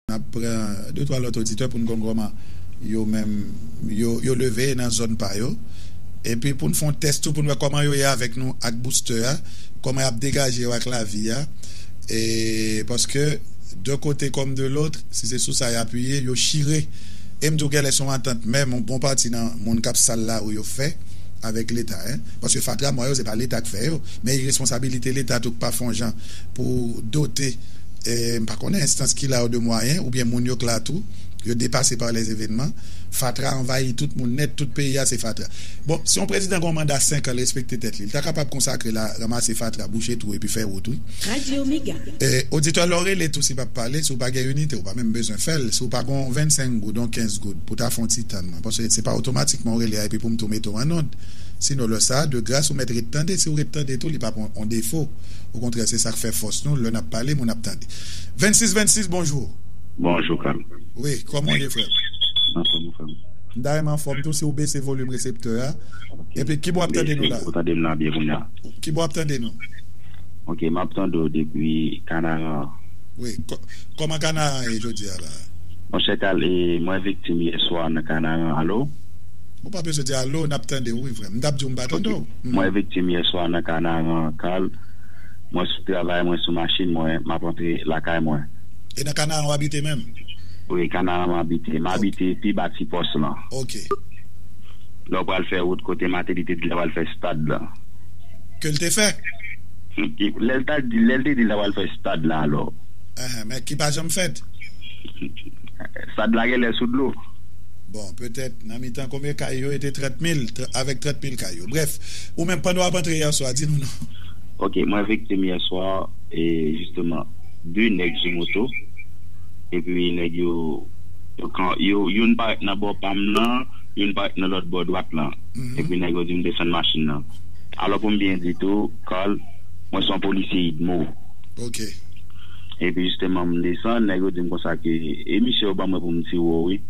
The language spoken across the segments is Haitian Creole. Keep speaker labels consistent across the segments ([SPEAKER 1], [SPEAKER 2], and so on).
[SPEAKER 1] N ap pran de twa lòt oditè pou n konn kòman yo menm yo leve nan zòn pa yo. Epi pou n fè yon tès tou pou n wè kòman yo ye avèk nou ak boustè a, kòman y ap degaje yo ak lavi a. E paske de kote kòm de lotr, si se sou sa y apiye, yo chire. E m di w gèlè se yon antant menm yon bon pati nan moun k ap sal lari yo fè avèk Leta. Paske fatra mwa yo se pa Leta k fè yo, men iresponsabilite Leta tou k pa fè yon jan pou dote. m pa konnen enstans ki la ou de mwayen oubyen moun yo k la tou yo depase pa lè evenman fatra anvayi tout moun nèt tout peyi a se fatra bon si yon prezidan gen yon manda 5 an l respekte tèt li l ta kapab konsakre l a ranmase fatra bouche twou epi fè wout wi.
[SPEAKER 2] Oditè lè w
[SPEAKER 1] rele tou si pa pale si w pa gen inite ou pa menm bezwen fè l si w pa gen yon 25 goud yon 15 goud pou ta fè yon ti tann mwen paske se pa otomatikman w rele a epi pou m tou mete w an nonde sino lè sa de gras ou mèt ret tande si w ret tande tou li pa p yon defo Okontrè se sak fè fòs nou lè nap pale moun ap tande. 26 26 bonjour. Bonjour frèm.
[SPEAKER 3] Wi kòman w ye
[SPEAKER 1] frèm. Anfòm ou frèm. M ta renmen anfòm tou si w bese volume reseptè a. Ok. Epi kibo wap tande nou la. Ou tande m la byen kounya. Kibo wap tande nou. Ok
[SPEAKER 3] map tande w depi kanaran. Wi
[SPEAKER 1] kòman kanaran ye jodi a la. Monchè kal
[SPEAKER 3] e mwen viktim yeswa nan kanaran alo. Ou pa bezwen
[SPEAKER 1] di alo nap tande w wi frèm. M tap di w m pa tande w. Mwen viktim yè
[SPEAKER 3] swa nan kanaran kal mwen sou travay mwen sou machin mwen map antre lakay mwen. E nan kanaran w
[SPEAKER 1] abite menm? Wi kanaran
[SPEAKER 3] m abite. M abite pi ba ti pòs lan. Ok. Lè w pral fè wout kote Mateli te di l ta pral fè stad lan. Ke l
[SPEAKER 1] te fè? Lè
[SPEAKER 3] l ta di lè l te di l ta pral fè stad lan alò. Ehe men ki pa
[SPEAKER 1] janm fèt.
[SPEAKER 3] Stad la genlè sou dlo. Bon, petèt,
[SPEAKER 1] nan mitan konbyen kay yo e te 30 mil, avèk 30 mil kay yo. Brèf, ou menm, pandan w ap antre yèswa, di nou non. Ok, mwen
[SPEAKER 3] viktim yèswa, e jisteman, 2 nèg sou moto, epi nèg yo, yo, youn parèt nan bò pa m nan, youn parèt nan lòt bò dwat lan. Epi nèg yo di m desann machin nan. Alò pou m byen di tou, Carl, mwen se yon polisye udmo. Ok.
[SPEAKER 1] Epi
[SPEAKER 3] jisteman m desann, nèg yo di m konsa ke, e misye yo ban mwen pou m tire w wi.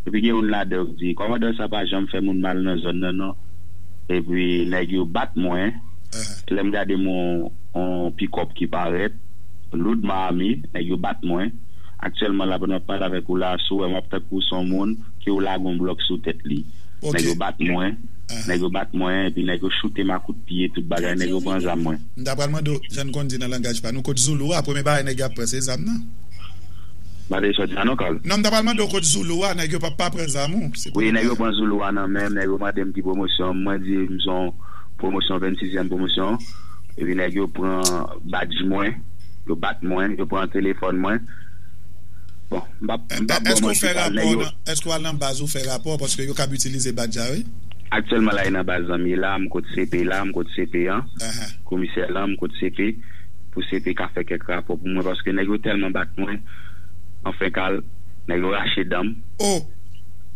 [SPEAKER 3] epi gen youn ladan yo ki di kòmandan sa pa janm fè moun mal nan zòn nan non epi nèg yo bat mwen lè m gade m wè yon pikòp ki parèt loud man ame nèg yo bat mwen aktyèlman la pandan map pale avèk ou la si w wè m ap tankou s on moun ke yo lage yon blòk sou tèt li nèg yo bat mwen nèg yo bat mwen epi nèg yo choute m a kout pye tout bagay nèg yo pran zam mwen. M ta pral mande w jan n
[SPEAKER 1] konn di nan langaj pa nou kot zoulou a premye bagay nèg yo ap pran se zam nan.
[SPEAKER 3] Mande li sòti an non Carl. Non m ta pral mande w kot zoulou
[SPEAKER 1] a nèg yo pap pa pran zam ou se Wi nèg yo pran zoulou
[SPEAKER 3] a nan menm nèg yo mande m ki pwomosyon mwen di m son pwomosyon 26 zièm pwomosyon epi nèg yo pran badj mwen yo bat mwen yo pran telefòn mwen bon m pap m pap bon
[SPEAKER 1] mwen chita nèg yo Èske w al nan baz ou fè rapò paske yo kab itilize badj la wi. Aktyèlman la e nan
[SPEAKER 3] baz zanmi la m kot CP la m kot CP an komisè lan m kot CP. pou CP ka fè kèk rapò pou mwen paske nèg yo tèlman bat mwen anfen kal nèg yo rache danm oh.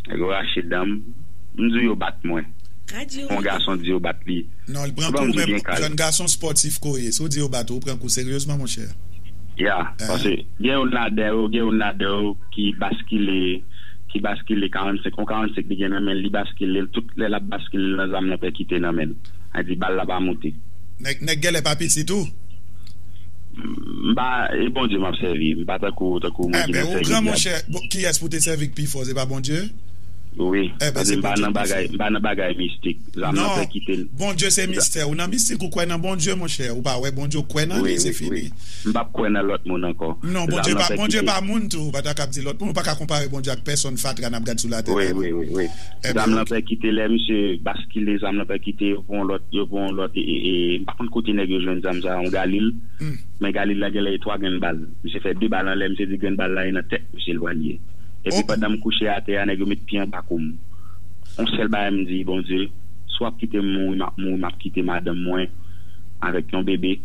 [SPEAKER 3] Nèg yo rache danm m di w yo bat mwen si yon gason di yo bat li non li pran kou men
[SPEAKER 1] jèn gason spòtif ke w ye si w di yo bat ou ou pran kou seryezman monchè ya paske
[SPEAKER 3] gen youn ladan yo gen youn ladan yo ki baskile ki baskile 45 yon 45 li gen nan men l li baskile l tout lè l ap baskile l nan zam nan pèkite nan men l a di bal la pa moute. Nèg gèlè pa
[SPEAKER 1] piti tou. M pa
[SPEAKER 3] e Bondye map sèvi m pa tankou tankou moun ki nan sèvi dyab. Enben ou gran monchè
[SPEAKER 1] kiyès pou te sèvi k pi fò se pa Bondye? Wi
[SPEAKER 3] paske m pa nan bagay m pa nan bagay mistik zanm nan fè kite m.
[SPEAKER 1] Non Bondye se mistè ou nan mistik ou kwè nan Bondye monchè ou pa wè Bondye ou kwè nan li se fini. M pap kwè nan lòt
[SPEAKER 3] moun ankò. Non Bondye pa Bondye
[SPEAKER 1] pa moun tou ou pa ta kab di lòt moun ou pa ka konpare Bondye ak pèsòn fatra nap gad sou latè la non.
[SPEAKER 3] Zam lan pèkite lè misye baskile zam lan pèkite yo pran yon lòt yo pran yon lòt e m pa konn kote nèg yo jwenn zam sa yon galil men galil la genlè e 3 grenn bal misye fè 2 bal anlè misye di grenn bal la e nan tèt misye l pral ye epi pandan m kouche atè a nèg yo met pye anba kou m yon sèl bagay m di Bondye si w ap kite m mouri m ap mouri m ap kite madanm mwen avèk yon bebe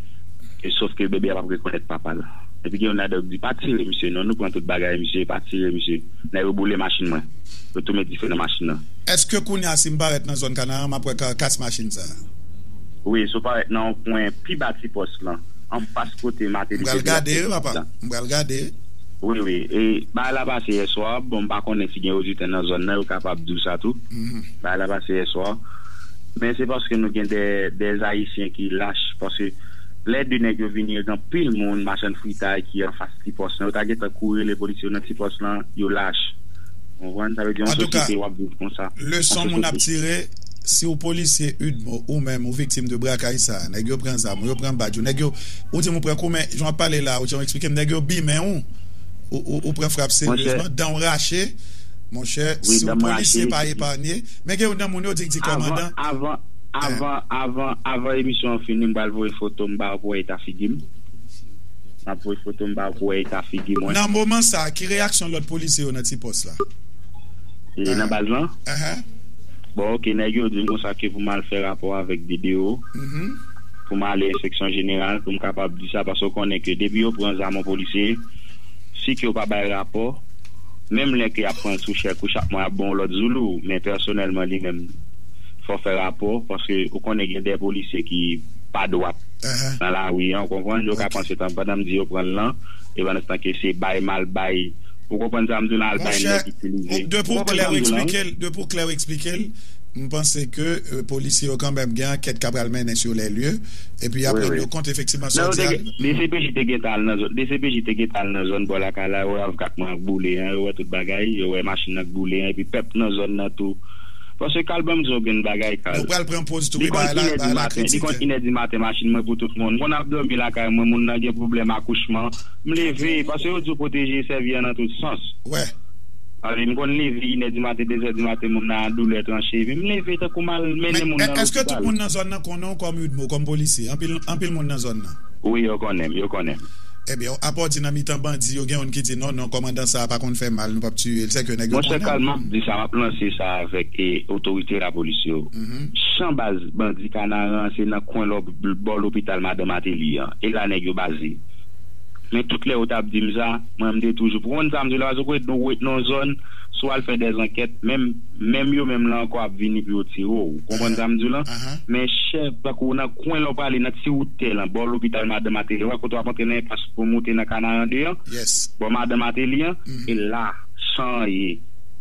[SPEAKER 3] e sof ke bebe a pap rekonèt papa l epi gen youn ladan yo k di pa tire misye non nou pran tout bagay misye pa tire misye nèg yo boule machin mwen. yo tou met dife nan machin nan. Eske kounya si m
[SPEAKER 1] parèt nan zòn Kanaran m ap wè karkas machin sa a? Wi, si w
[SPEAKER 3] parèt nan yon kwen pi ba ti pòs lan, anfas kote Mateli te di l ap fè vizit lan. M pral
[SPEAKER 1] gade, papa. Wi, wi. E,
[SPEAKER 3] bagay la pase yèswa. Bon, m pa konnen si gen oditè nan zòn nan, yo kapab di w sa tou. Bagay la pase yèswa. Men se paske nou gen de Ayisyen ki lach. Paske lè de nèg yo vini, yo gen anpil moun, machann fritay ki anfas ti pòs lan. Yo ta gentan kouri rele polisye yo nan ti pòs lan. Yo lach. Antouka, leson moun ap tire,
[SPEAKER 1] si ou polisye ud mo ou menm ou viktim de brakay sa, nèg yo pran zam ou, yo pran badj ou, nèg yo, ou di m ou pran kou men, jan w ap pale la, ou janw eksplike m, nèg yo bimen ou, ou pran frap seryezman, dan w rache, monchè, si w polisye pa epanye, men gen youn nan moun yo di k di kòmandan. Avan, avan, avan,
[SPEAKER 3] avan emisyon an fini m pral voye foto m ba w pou w wè eta figi m. Map voy foto m pa k wè eta figi mwen. Nan moman sa ki
[SPEAKER 1] reyaksyon lòt polisye yo nan ti pòs la?
[SPEAKER 3] Nan baz lan? Bon ok nèg yo di m konsa ke pou m al fè rapò avèk BDO pou m ale enspeksyon jeneral pou m kapab di sa paske ou konnen ke depi yo pran zam yon polisye si ke yo pa bay rapò menm lè ke y ap pran l sou chèk ou chak mwa y ap ban w lòt zoulou men pèsonèlman li menm fò w fè rapò paske ou konnen gen de polisye ki pa dwat. nan lari an, ou konprann, yo ka panse tan pandan m di yo pran l lan, e pandanstan ke se bay m al bay, ou konprann sa m di w la, al bay nèg itilize, ou konprann sa m di
[SPEAKER 1] w la wi. Depi w klè w eksplike l, m panse ke polisye yo kanmèm gen ankèt k ap pral mennen sur les lieux, epi y ap rann yo kont efektivman sa w di a. Dcpj te gentan
[SPEAKER 3] al nan zòn, dcpj te gentan al nan zòn bò lakay la, yo wè avk ak mwen ak boule an, yo wè tout bagay, yo wè machin nan k boule an, epi pèp nan zòn nan tou, Paske kal banm diw grenn bagay kal. Nou pral pran poz tou wi bay
[SPEAKER 1] la bay la kritike. Li konn inèdi maten machin
[SPEAKER 3] mwen pou tout moun konn ap domi lakay mwen moun nan gen pwoblèm akouchman m leve paske yo diw pwoteje sèvi an nan tout sans m konn leve inèdi maten dezè di maten moun nan andoulè tranche vi m leve tankou m al mennen moun nan lopital. Eske tout moun nan zòn
[SPEAKER 1] nan konnen w kòm udmo kòm polisye anpil moun nan zòn nan. Wi yo konnen m yo
[SPEAKER 3] konnen m. Ebyen
[SPEAKER 1] apòti nan mitan bandi yo gen youn ki di non non kòmandan sa pa konn fè mal nou pap tiye l sèke nèg yo konnen. Monchè Carl map di sa
[SPEAKER 3] map lanse sa avèk otorite lapolis yo chan baz bandi kanaran se nan kwen lò bò lopital madan mateli an e la nèg yo baze men tout lè yo tap dim sa mwen m te toujou pou konn sa m di la paske kwè nou wèt nan yon zòn si w al fè dè zankèt menm menm yo menm la ankò ap vini pou yo tire w ou konprann sa m di w lan men chè tankou nan. kwen lè w prale nan ti wout tè lan bò lopital madan Mateli wè kote w ap antre nan enpas pou moute nan Kanaran 2 an bò madan Mateli an e la chan an ye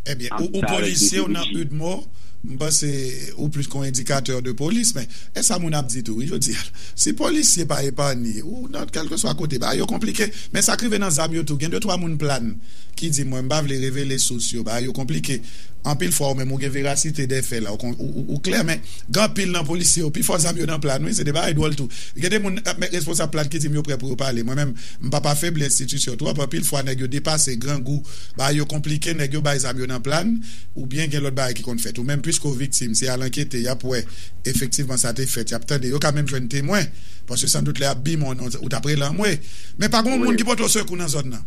[SPEAKER 3] Ebyen ou
[SPEAKER 1] polisye ou nan udmo m panse ou plis kon edikatè de polis men e sa moun ap di tou wi jodi a si polisye pa epanye ou nan kèlkeswa kote bagay yo konplike men sa k rive nan zam yo tou gen de twa moun plann ki di mwen m pa vle revele sous yo bagay yo konplike anpil fwa ou menm ou gen verasite dè fè la ou klè men. Gen anpil nan polisye yo, pifò zam yo nan pla n wi, se de bagay dwòl tou. Gen de moun kap met responsab pla n ki di m yo prè pou yo pale. Mwen menm, m pap afebli enstitisyon twòp, anpil fwa nèg yo depase, grangou, bagay yo konplike, nèg yo bay zam yo nan pla n, oubyen gen lòt bagay ki konn fèt. Ou menm, piske w viktim, se al ankete, y ap wè, efektivman sa te fèt, y ap tande, yo ka menm jwenn temwen, paske sandout lè y ap bi moun, ou t ap rele anmwe. Men pa gen yon moun ki pote w sekou nan zòn nan.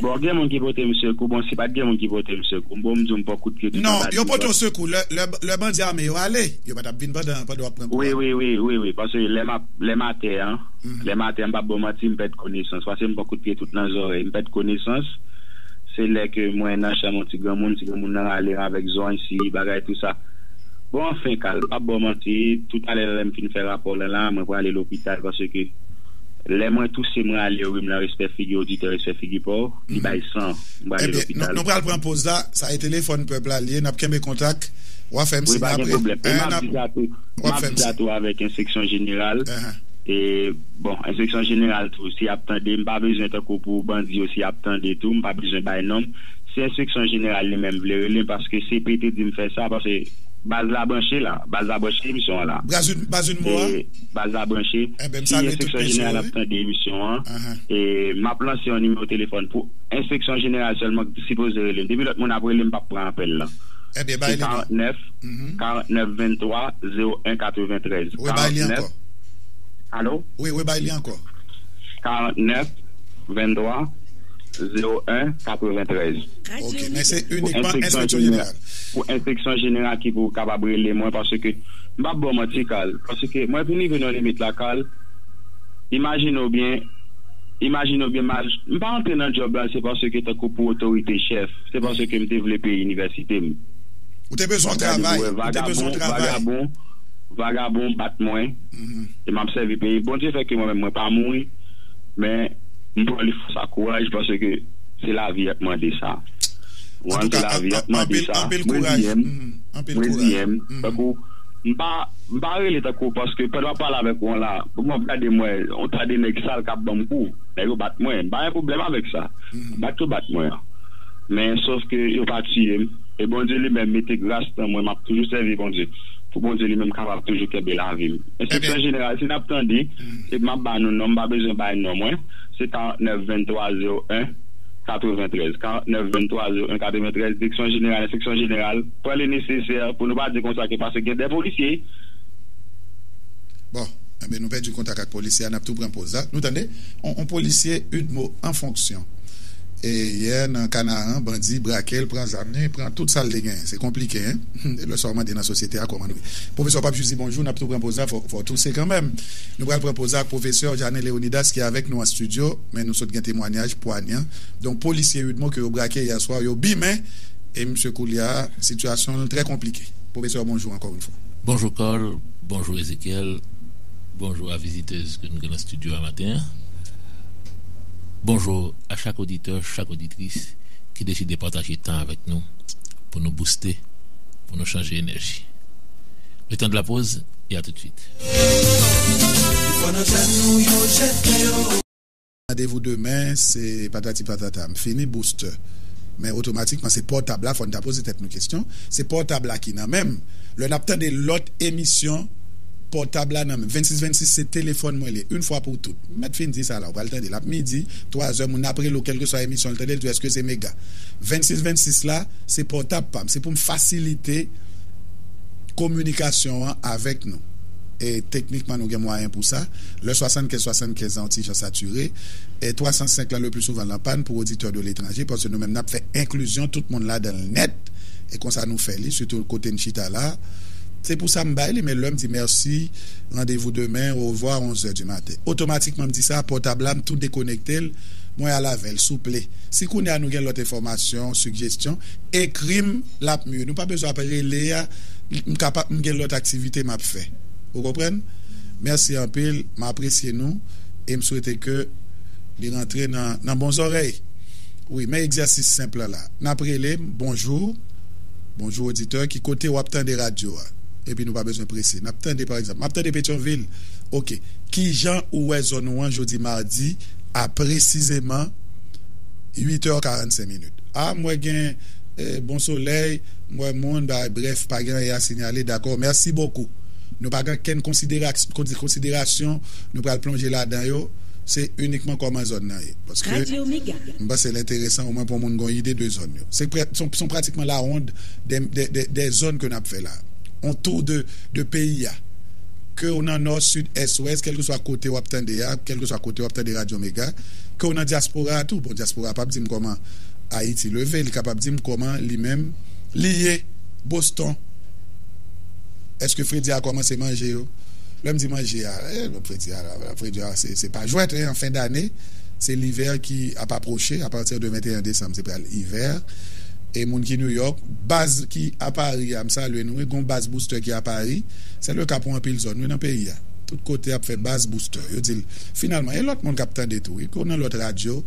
[SPEAKER 1] Bon gen
[SPEAKER 3] moun ki pote m sekou bon si pat gen moun ki pote m sekou bon m di w m pran kout pye tout anba divòs. Non yo pote w sekou
[SPEAKER 1] lè bandi ame yo ale yo pa tap vin pandan w ap pran kou a. Wi wi wi paske
[SPEAKER 3] lè m atè an lè m atè an m pap ba w manti m pèd konesans paske m pran kout pye tout nan zòrèy m pèd konesans se lè ke mwen nan chanm yon ti granmoun ti granmoun nan rale m avèk zony si bagay tou sa bon anfen kal m pap ba w manti tou talè lè m fin fè rapò lan la mwen prale lopital paske Lè mwen touse mwen ale rhum lan respè figi oditè respè figi paw li bay san m prale lopital. Nou pral pran poz la
[SPEAKER 1] sa e telefòn pèp la li ye nap kenbe kontak wap fèm siy aprè 1 an
[SPEAKER 3] ap wap fèm siy. Avèk enseksyon jeneral e bon enseksyon jeneral tou si yap tande m pa bezwen tankou pou bandi yo si yap tande tou m pa bezwen bay nom si enseksyon jeneral li menm vle relem paske CPT dim fè sa paske baz la branche la baz la branche emisyon an la. Baz un mo a.
[SPEAKER 1] Baz la branche,
[SPEAKER 3] si enspeksyon jeneral ap tande emisyon an, m ap lanse yon nimewo telefòn pou enspeksyon jeneral sèlman ki sipoze rele m. Depi lòt moun ap rele m, m p ap pran apèl lan. Se 49 49 23 01 93. 49.
[SPEAKER 1] Alo?
[SPEAKER 3] Wi, rebay li
[SPEAKER 1] ankò. 49 23 01
[SPEAKER 3] 93. Ok, men
[SPEAKER 1] se inikman enspeksyon jeneral. Pou enspeksyon
[SPEAKER 3] jeneral ki pou kapab rele mwen paske. M pap ba w manti Carl, paske mwen vin rive nan limit la Carl, imajine w byen, imajine w byen ma, m pa antre nan djòb la se paske tankou pou otorite chèf, se paske m te vle peye inivèsite m. Ou te
[SPEAKER 1] bezwen w travay, ou te bezwen w travay. Gade m wè vagabon,
[SPEAKER 3] vagabon bat mwen, e m ap sèvi peyi, Bondye fè ke mwen menm mwen pa mouri, men m pran li fòs ak kouraj paske se lavi a ki mande sa. Ou an se
[SPEAKER 1] lavi a ki mande
[SPEAKER 3] sa,
[SPEAKER 1] mwen di m. Mwen di em
[SPEAKER 3] tankou
[SPEAKER 1] m pa m
[SPEAKER 3] pa rele tankou paske pandan map pale avèk ou an la m ap gade m wè yon ta de nèg sal kap banm kou nèg yo bat mwen m pa gen pwoblèm avèk sa bat yo bat mwen an men sof ke yo pa tiye m e Bondye li menm mete gras nan mwen map toujou sèvi Bondye pou Bondye li menm kapab toujou kenbe lavi m enstriksyon jeneral si nap tande epi map ba nou non m pa bezwen bay non mwen se 49 23 01. 93 49 23 01 93 Direksyon Jeneral Enspeksyon Jeneral pran le nesesè pou nou pa di konsa ke pase gen de polisye.
[SPEAKER 1] Bon, enben nou pèdi kontak ak polisye a, n ap tou pran poz la. Nou tande yon polisye udmo an fonksyon. Yè nan Kanaran, bandi brake l, pran zam li, pran tout sa l te genyen. Se konplike, hein? Hum, lè sa w mande nan sosyete a kòman nou ye. Pwofesè w pa jis di bonjou, n ap tou pran poz la, fò w touse kanmenm. Nou pral pran poz la ak pwofesè Jeanne Léonidas ki avèk nou an stidyo. Men nou sot gen temwanyaj pwanyan don polisye udmo ke yo brake yè swa yo bi men e misye koulya sitiyasyon l trè konplike. Pwofesè bonjou ankò yon fwa. Bonjou Carl,
[SPEAKER 2] bonjou Ezechiel, bonjou a vizitez ke nou gen nan studio a maten an. Bonjou a chak oditè, chak oditris ki deside pataje tan avèk nou pou nou bouste, pou nou chanje enèji. Le tan de la pause e a tout de suite.
[SPEAKER 1] Randevou demen se patati patata m fini booster men otomatikman se pòtab la fò n ta poze tèt nou kesyon se pòtab la ki nan men m lè n ap tande lòt emisyon pòtab la nan men m 26 26 se telefòn mwen li yn fwa pou tout m mèt fin di sa la ou pral tande l ap midi twazè moun ap rele w kèlkeswa emisyon l tande l di w èske se mega 26 26 la se pòtab pa m se pou m fasilite kominikasyon an avèk nou. E teknikman nou gen mwayen pou sa. Le 75 75 lan yon ti jan satire. E 305 lan le pli souvan l anpàn pou oditè de letranje paske nou menm n ap fè enklizyon tout moun ladan l nèt. E konsa nou fè li sitou kote n chita la. Se pou sa m bay li men lè m di mèsi, randevou demen, orevwa a 11 zè di maten. Otomatikman m di sa, pòtab la m tou dekonekte l, mwen al avè l. Souple, si kounye a nou gen lòt enfòmasyon, sigjestyon, ekri m. Lap mye nou pa bezwen ap rele a m ka pa m gen lot aktivite map fè ou konprann merci anpil m apresye nou e m swete ke li rantre nan bon zorey wi men egzèsis senp lan la nap rele m bonjou bonjou oditè ki kote wap tande radyo a epi nou pa bezwen prese nap tande pa egzanp map tande petyonvil ok kijan ou wè zòn ou an jodi mardi a presizeman 8 è 45 minit a m wè gen. Bon solèy, m wè moun bay brèf pa gen anyen a sinyale dakò mèsi bokou. Nou pa gen kenn konsiderasyon nou pral plonje ladan yo, se inikman kòman zòn nan ye. Paske m panse l enteresan omwen pou moun gon ide de zòn yo. Se son pratikman la wond dè zòn ke n ap fè la. On tour de peyi a. Ke w nan nò, sid, ès, wès, kèlkeswa kote w ap tande a, kèlkeswa kote w ap tande Radyo Mega, ke w nan dyaspora a tou, bon dyaspora a pa p di m kòman, Ayiti leve li kapab dim koman li menm li ye Boston eske fredi a komanse manje yo lèm di manje a eeh fredi a fredi a se pa jwèt eeh an fen dane se livè ki ap aproche apati de 21 desanm se pral ivè e moun ki New York baz ki a Paris a m salye nou wi gon baz booster ki a Paris se le ka pou anpil zòn wi nan peyi a tout kote ap fè baz booster yo dil finalman e lòt moun kap tande tou wi nan lòt radyo.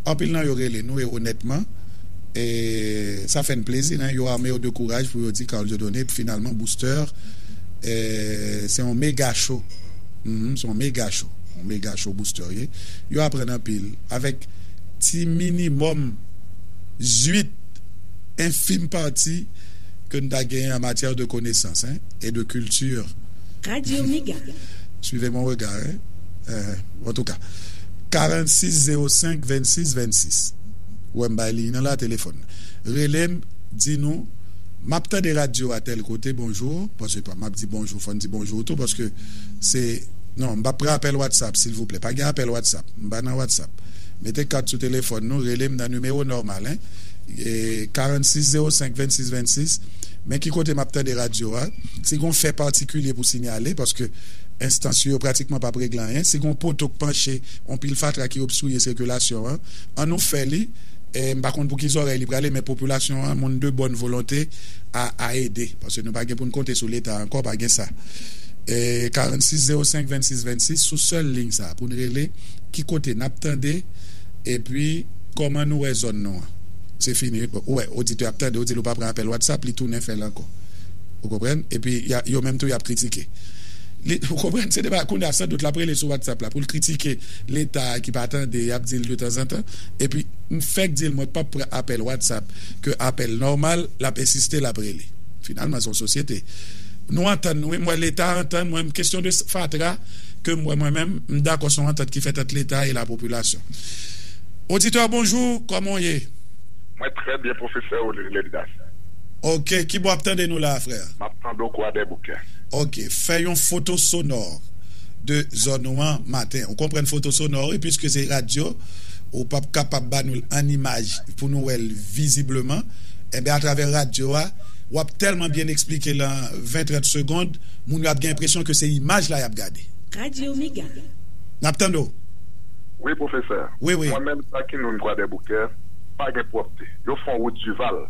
[SPEAKER 1] Anpil nan yo rele nou e onètman e sa fè n plezi nen yo arme yo de kouraj pou yo di Carl Dieudonné finalman Booster se yon mega cho humm se yon mega cho yon mega cho Booster ye yo aprann anpil avèk ti minimòm zuit enfim pati ke n ta genyen an matyè de konesans hein et de culture Radio
[SPEAKER 4] Mega. Suivez mon
[SPEAKER 1] regard hein. Antouka. 46 05 26 26 wè m bay liy nan la telefòn rele m di nou m ap tande radyo a tèl kote bonjou paske m ap di bonjou fò n di bonjou tou paske se non m p ap pran apèl watsap silvouplè pa gen apèl watsap m pa nan watsap mete kat sou telefòn nou rele m nan nimewo nòmal 46 05 26 26 men ki kote m ap tande radyo a si gon fè patikilye pou sinyale paske. enstans yo, yo pratikman pap regle anyen. Si gen yon poto k panche, yon pil fatra ki obstriye sikilasyon an, an nou fè li, m pa konn pou ki zòrèy li prale men popilasyon an, moun de bòn volonte a a ede paske nou pa gen pou n konte sou leta ankò pa gen sa. 46 05 26 26 sou sèl liy sa pou n rele ki kote nap tande epi kòman nou wè zòn nou an se fini ou wè oditè ap tande ou di l ou pa pran apèl whatsapp li tounen fè l ankò. Ou konprann? Epi yo menm tou y ap kritike. Li, ou konprann, se de bagay, kounye a san dout l ap rele sou Whatsapp la pou l kritike Leta a ki pa tande, y ap di l de tanzantan. Epi m fèk di l mwen p ap pran apèl Whatsapp ke apèl nòmal, l ap ensiste l ap rele. Finalman se yon sosyete. Nou antann nou wi, m wè Leta antann mwen m. Kesyon de fatra ke m wè mwen menm, m dakò se yon antant ki fèt ant Leta e lapopilasyon. Auditeur, bonjour, kòman w ye? Mwen trè byen
[SPEAKER 4] pwofesè Oleric Ledidas. Ok,
[SPEAKER 1] kibò wap tande nou la a frè? Map tande w kwadèboukè.
[SPEAKER 4] Ok, fè yon
[SPEAKER 1] foto sonò de zòn ou an maten. Ou konprann foto sonò wi, piske se radyo, ou pap kapab ba nou l an imaj pou nou wè l vizibleman. Enben atravè radyo a, wap tèlman byen eksplike l an 20, 30 segond, moun yo ap gen enpresyon ke se imaj la yap gade. Radyo Mega.
[SPEAKER 5] Nap tande w.
[SPEAKER 1] Wi
[SPEAKER 4] pwofesè. Wi, wi. Mwen menm
[SPEAKER 1] Sakinoun
[SPEAKER 4] kwadèboukè, pa gen pwòpte. Yo fon wout Duval.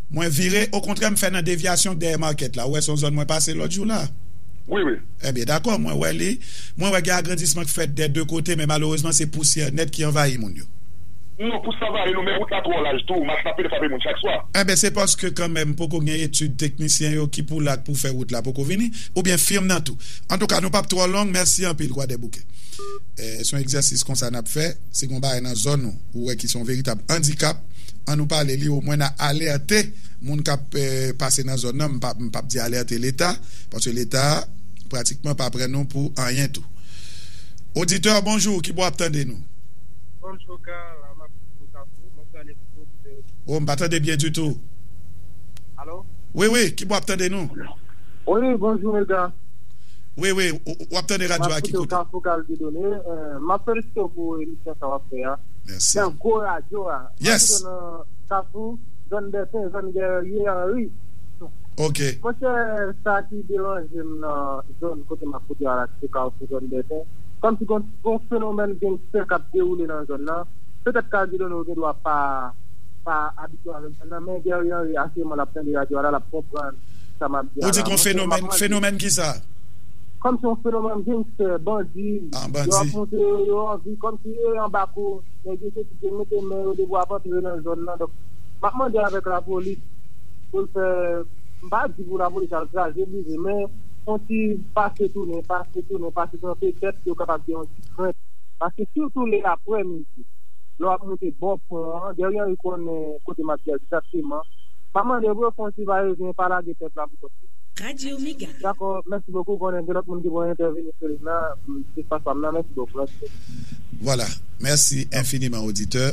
[SPEAKER 1] Mwen vire, okontrè m fè nan devyasyon dèyè market la, ou wè son zòn mwen pase lòt jou la? Wi wi.
[SPEAKER 4] Ebyen dakò, mwen wè
[SPEAKER 1] li, mwen wè gen agrandisman k fèt dè 2 kote men malerezman se pousyè nèt ki anvayi moun yo. Non pousyè anvayi
[SPEAKER 4] nou men wout la twò laj tou, mach lapli frape moun chak swa. Ebyen se paske
[SPEAKER 1] kanmenm poko gen etid teknisyen yo ki pou la k pou fè wout la poko vini, oubyen firm nan tou. Antouka nou pap twò long, mèsi anpil Kwadèboukè. Se yon egzèsis konsa n ap fè, si gen yon bagay nan zòn ou, ou wè ki se yon veritab andikap, An nou pale li omwen na alerte moun kap pase nan zòn nan, m pap di alerte leta, paske leta pratikman pa pran nou pou anyen tou. Auditeur bonjour kibò wap tande nou? Bonjour
[SPEAKER 6] Carl, la map koute Kafou, mwen tande
[SPEAKER 1] tout bon kote yo. Oh m pa tande byen ditou. Alo?
[SPEAKER 6] Wi wi, kibò
[SPEAKER 1] wap tande nou? Wi
[SPEAKER 6] bonjour Mega. Wi
[SPEAKER 1] wi, wap tande radyo a ki kote? Map koute w Kafou Carl Dieudonné,
[SPEAKER 6] map felisitew pou emisyon sa wap fè a. Merci. Nan gwo
[SPEAKER 1] radyo
[SPEAKER 6] a. Yes. Mwen
[SPEAKER 1] rete nan Kafou,
[SPEAKER 6] zòn Dèpen, zòn Guerrier Henri. Ok.
[SPEAKER 1] Monchè,
[SPEAKER 6] sa ki deranje m nan zòn kote m ap koute a la ki se Kafou, zòn Dèpen, kòmsi gon ti gon fenomèn gangster k ap dewoule nan zòn nan. Petèt Cardidono gen dwa pa pa abitye avèk zòn nan, men Guerrier Henri asireman l ap tande radyo a la, l ap konprann sa m ap di a la. Ou di gon fenomèn,
[SPEAKER 1] fenomèn kisa? Kòmsi yon
[SPEAKER 6] fenomèn gangster, bandi. Ah, bandi. Yo ap monte,
[SPEAKER 1] yo anvi kòm.
[SPEAKER 6] Tire anba kou, nèg yo soti te mete men yo depi wap antre nan zòn nan donk map mande avèk lapolis poul fè m pa di pou lapolis al kraze brize men yon ti pase tounen pase tounen pase tounen petèt yo kapab gen yon ti krent paske sitou lè aprè midi lè wap moute bò pon an Guerrier Henry konnen kote map di a egzakteman map mande pou yo fè yon ti va e vyen pa lage pèp la pou kont yo.
[SPEAKER 5] Dakò mèsi bokou
[SPEAKER 6] konnen gen lòt moun ki vle entèveni sou lim nan se espas pam nan mèsi bokou. Voilà.
[SPEAKER 1] Mèsi enfiniman oditè.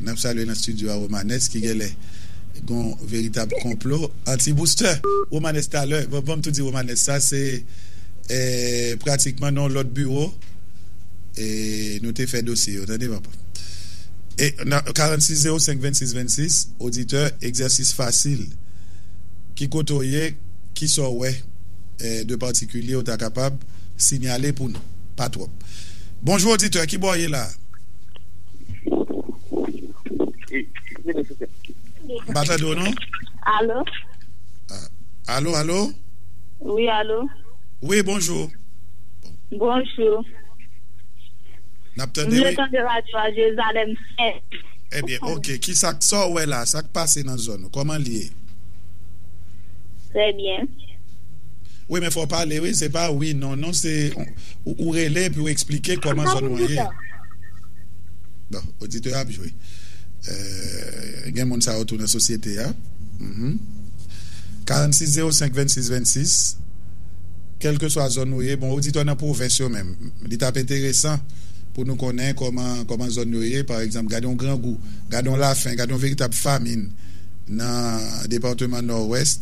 [SPEAKER 1] N ap salye nan stidyo a Romanès ki genlè gon veritab konplo anti boustè. Romanès talè, banm tou di Romanès sa se pratikman nan yon lòt biwo nou te fè dosye yo tande papa. 46 05 26 26 oditè egzèsis fasil ki kote w ye kisa w wè de patikilye ou ta kapab sinyale pou nou. pa twòp. Bonjou oditè, ki bò w ye la a? M pa tande w non. Alo?
[SPEAKER 7] Alo, alo?
[SPEAKER 1] Wi, alo?
[SPEAKER 7] Wi, bonjou. Bonjou.
[SPEAKER 1] N ap tande w. M vle tande radyo a
[SPEAKER 7] Jerizalèm Sent. Ebyen,
[SPEAKER 1] ok. Ki sa k, sa w wè la a? Sa k pase nan zòn ou? Kòman l ye? Trè
[SPEAKER 7] byen. Wi
[SPEAKER 1] men fò w pale wi se pa wi non non se ou rele epi ou eksplike kòman zòn ou an ye. Bon oditè a ap jwe gen moun sa yo tou nan sosyete a 46 05 26 26 kèlkeswa zòn ou ye bon oditè nan pwovens yo menm li t ap enteresan pou nou konnen kòman zòn yo ye pa egzanp gade yon grangou gade yon lafen gade yon veritab famin nan departeman nòwès.